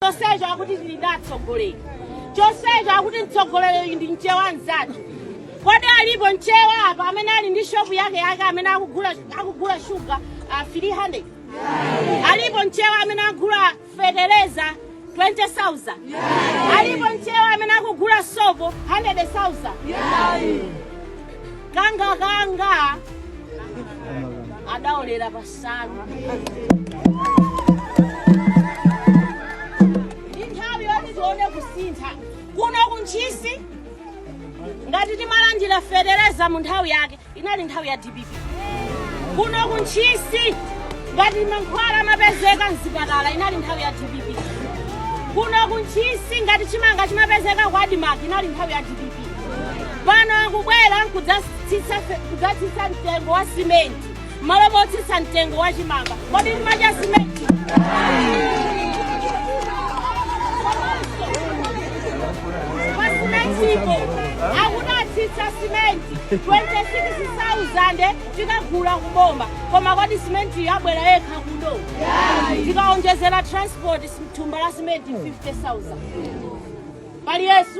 chonsecho akuti tili ndi atsogoleri chonsecho akuti mtsogoleri ndi mchewa mzathu kodi alipo mchewa apa amene ali ndi shopu yake yake amene akugula shuga uh, 300 alipo mchewa amene agula feteleza 20,000 alipo mchewa amene akugula sopo 100,000 kanga kanga adaolera pansalu ndi nthawi yoti tione kusintha kuno ku ntchisi ngati timalandira feteleza mu nthawi yake inali nthawi ya dpp kuno ku ntchisi ngati mankhwala amapezeka mzipatala inali nthawi ya dpp kuno ku ntchisi ngati chimanga chimapezeka kwa admarc inali nthawi ya dpp pano akubwera kudzatsitsa mtengo wa simenti mmalo motsitsa mtengo wa chimanga kodi timadya simenti pasimentipo akuti atsitsa simenti 26,000 tikagula kuboma koma kodi simenti ibwera yekha kuno tikaonjezera transport sim- thumba la simenti 50,000 pali yesu